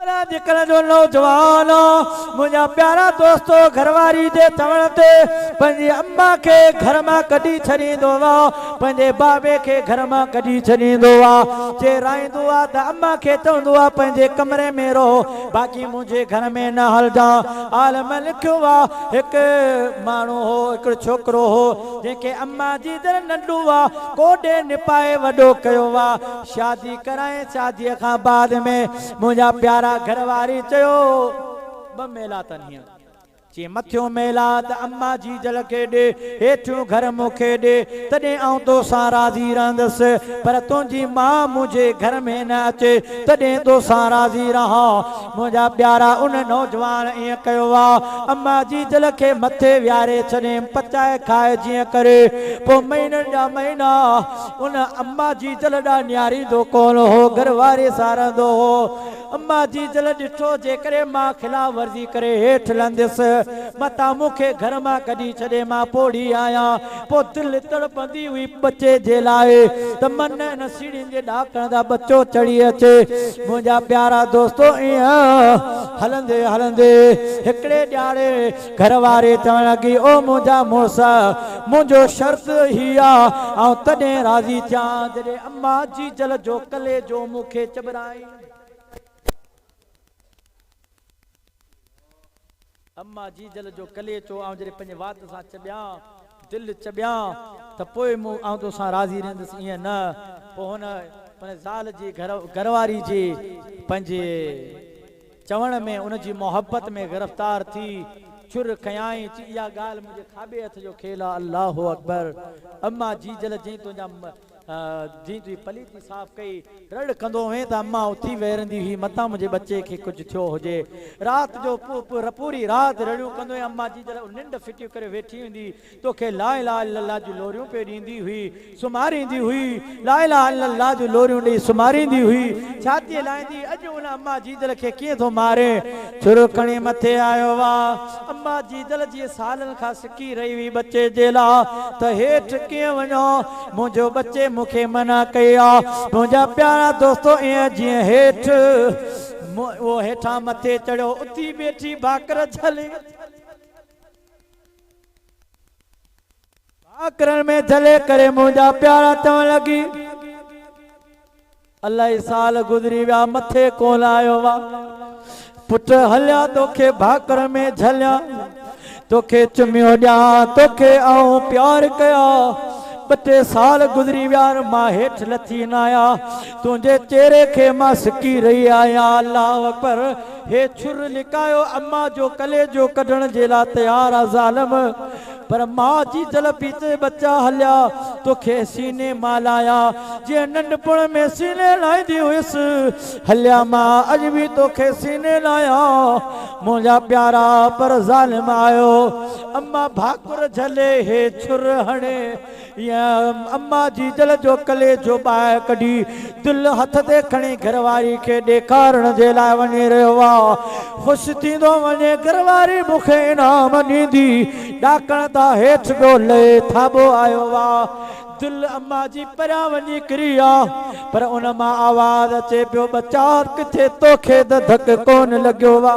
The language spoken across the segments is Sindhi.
پر اڄڪلهه جو نوجوان، منهنجا پيارا دوستو، گهر واري جي چوڻ تي پنهنجي اما کي گهر مان ڪڍي ڇڏيندو آ، پنهنجي بابي کي گهر مان ڪڍي ڇڏيندو آ، جي رائيندو آ ته اما کي چوندو آ پنهنجي ڪمري ۾ رهو، باقي منهنجي گهر ۾ نه هلجان. عالم لکيو آ، هڪ ماڻهو هو، هڪڙو ڇوڪرو هو، جنهن کي اما جي در ننڍو آ، ڪوڏي نپائي وڏو ڪيو آ. شادي ڪرايائين شادي کان بعد ۾ منهنجا پيارا گهر واري چيو ٻه ميلا تن هيئن چي مٿيون ميلا ته اما جيجل کي ڏي هيٺيون گهر مون کي ڏي تڏهن آئون توسان راضي رهندس پر تنهنجي ماء منهنجي گهر ۾ نه اچي تڏهن توسان راضي رهان منهنجا پيارا ان نوجوان ائين ڪيو آ اما جيجل کي مٿي ويهاري ڇڏيم پچائي کائي جيئن ڪري پوء مهينن جا مهينا ان اما جي دل ڏانهن نهاريندو ڪونه هو، گهر واري سان رهندو هو. اما جي دل ڏٺو، جيڪڏهن مان خلاف ورزي ڪري هيٺ لهنديس، متان مون کي گهر مان ڪڍي ڇڏي، مان پوڙهي آهيان. پوء دل تڙپندي هئي ٻچي جي لاء، ته من نه ان سيڙهين جي ڏاڪڻ تان ٻچو چڙهي اچي. منهنجا پيارا دوستو! ائين هلندي هلندي هڪڙي ڏهاڙي. گهر واري چوڻ لڳي، او منهنجا مڙس! منهنجو شرط هي آ، آئون تڏهن راضي ٿيان، جڏهن اما جيجل جو ڪليجو مون کي چٻرائين. اما جيجل جو ڪليچو آئون جڏهن پنهنجي وات سان چٻيان، دل چٻيان، ته پوء مون آئون تو سان راضي رهندس، ائين نه؟ پوء هن پنهنجي زال جي، گهر واري جي، پنهنجي. چوڻ ۾ ان جي محبت ۾ گرفتار ٿي چر ڪيائين چي اها ڳالهه منهنجي کاٻي هٿ جو کيل آ الله اڪبر اما جي جل جئين تنهنجا جئين تنهنجي پليتي صاف ڪئي رڙ ڪندو هئين ته اما اٿي ويرندي هئي متان منهنجي ٻچي کي ڪجهه ٿيو هجي رات جو پوري رات رڙيون ڪندو هئين اما جي جل ننڊ ڦٽيون ڪري ويٺي هوندي هئي تو کي لا اله الا الله جون لوريون پئي ڏيندي هئي، سمهاريندي هئي، لا اله الا الله جون لوريون ڏئي سمهاريندي هئي، ڇاتيء لائيندي، اڄ ان اما جيجل کي ڪيئن ٿو مارين. ڇرو کڻي مٿي آيو وا. اما جيجل جيئن سالن کان سڪي رهي هئي ٻچي جي لا ته هيٺ ڪيئن وڃان، منهنجو ٻچي مون کي منع ڪئي آ، منهنجا پيارا دوستو ايئن جيئن هيٺ اهو هيٺان مٿي چڙهيو اتي بيٺي ڀاڪر جهلي. ڀاڪرن ۾ جهلي ڪري منهنجا پيارا چوڻ لڳي، الائي سال گذري ويا مٿي ڪونه آيو وا پٽ هليا توکي ڀاڪرن ۾ جهليان توکي چميون ڏيان توکي آئون پيار ڪيا ٻه ٽي سال گذري ويا مان هيٺ لٿي نه آيا تنهنجي چهري کي مان سڪي رهي آهيان الله اڪبر هي ڇر لڪايو اما جو ڪليجو ڪڍڻ جي لا تيار آ ظالم پر ماء جي جلبي تي ٻچا هليا توکي سيني مان لايا جيئن ننڍپڻ ۾ سيني لائيندي هيس هليا ماء اڄ به توکي سيني لايا منهنجا پيارا پر ظالم آيو اما ڀاڪر جهلي هي ڇر هڻي اما جي دل جو ڪليجو ٻاهر ڪڍي دل هٿ تي کڻي گهر واري کي ڏيکارڻ جي لاء وڃي رهيو آ. خوش ٿيندو وڃي گهر واري مون کي انعام ڏيندي ڏاڪڻ تان هيٺ ڏو لهي ٿاٻو آيو آ. دل اما جي پريان وڃي ڪري آ پر ان مان آواز اچي پيو ٻچا ڪٿي توکي ته ڌڪ ڪون لڳيو آ.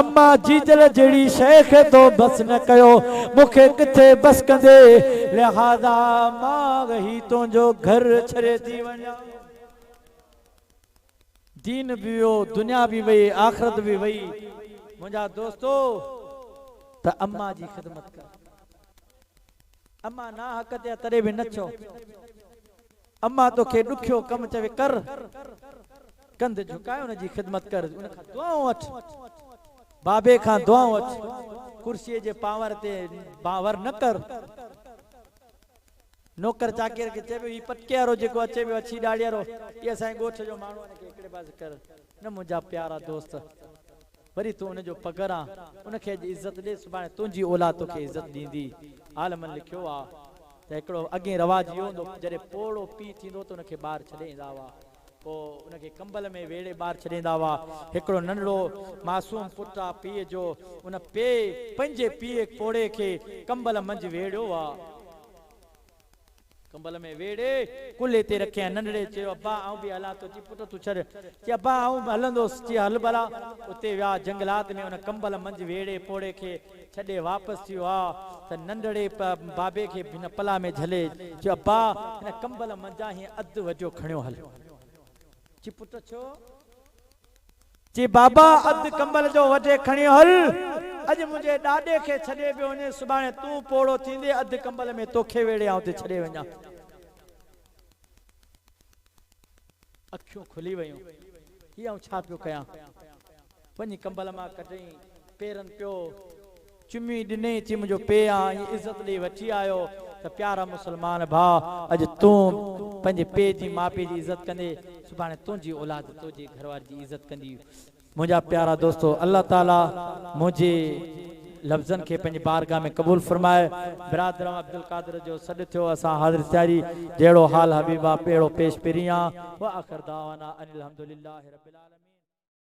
اما جيجل جهڙي شيء کي تو بس نه ڪيو، مون کي ڪٿي بس ڪندي، لهذا مان وهي تنهنجو گهر ڇڏي ٿي وڃان. دين به ويو، دنيا به وئي، آخرت به وئي، منهنجا دوستو ته اما جي خدمت ڪر. اما ناحق تي آ تڏهن به نه چئو. امان توکي ڏکيو ڪم چوي ڪر، ڪنڌ جهڪائي ان جي خدمت ڪر، ان کان دعائون وٺ، بابي کان دعائون وٺ، ڪرسيء جي پانور تي بانور نه ڪر. نوڪر چاڪر کي چئي پيو، هي پٽڪي وارو جيڪو اچي پيو اڇي ڏاڙهي وارو، هي اسان جي ڳوٺ جو ماڻهو آهي، هن کي هڪڙي پاسي ڪر، نه منهنجا پيارا دوست! وري تون ان جو پگهر آن، ان کي اڄ عزت ڏي، سڀاڻي تنهنجي اولاد توکي عزت ڏيندي. عالمن لکيو آ ته هڪڙو اڳين رواج اهو هوندو هو جڏهن پوڙهو پيء ٿيندو هو ته ان کي ٻاهر ڇڏي ايندا هئا. پوء ان کي ڪمبل ۾ ويڙهي ٻاهر ڇڏي ايندا هئا. هڪڙو ننڍڙو معصوم پٽ آ پيء جو، ان پيء پنهنجي پيء پوڙهي کي ڪمبل منجهه ويڙهيو آ. ڪنبل ۾ ويڙهي ڪلهي تي رکيائين. ننڍڙي چيو، ابا آئون به هلان ٿو. چي پٽ تون ڇڏ. چي ابا آئون به هلندوس. چي هل ڀلا. اتي ويا. جهنگلات ۾ ان ڪنبل منجهه ويڙهي پوڙهي کي ڇڏي واپس ٿي ويا ته ننڍڙي بابي کي هن پلا ۾ جهلي چيو، ابا هن ڪنبل منجهان هي اڌ وجهو کڻيو هل. چي پٽ ڇو؟ چي بابا اڌ ڪمبل جو وڍي کڻي هل، اڄ منهنجي ڏاڏي کي ڇڏي پيو وڃين، سڀاڻي تون پوڙهو ٿيندي اڌ ڪمبل ۾ توکي ويڙهي آئون اتي ڇڏي وڃان. اکيون کلي ويون، هي آئون ڇا پيو ڪيان؟ وڃي ڪمبل مان ڪڍيائين، پيرن پيو. چمي ڏني ٿي منهنجو پيء آ ائين عزت ڏئي وٺي آيو ته پيارا مسلمان ڀاء اڄ تون پنهنجي پيء جي ماپي جي عزت ڪندي سڀاڻي تنهنجي اولاد تنهنجي گهرواري جي عزت ڪندي منهنجا پيارا دوستو الله تعالي منهنجي لفظن کي پنهنجي بارگاھ ۾ قبول فرمائي برادران عبدالقادر جو سڏ ٿيو اسان حاضر ٿياري جهڙو حال حبيبا پهڙو پيش پرين آ واخر دعوانا ان الحمدلله رب العالمين.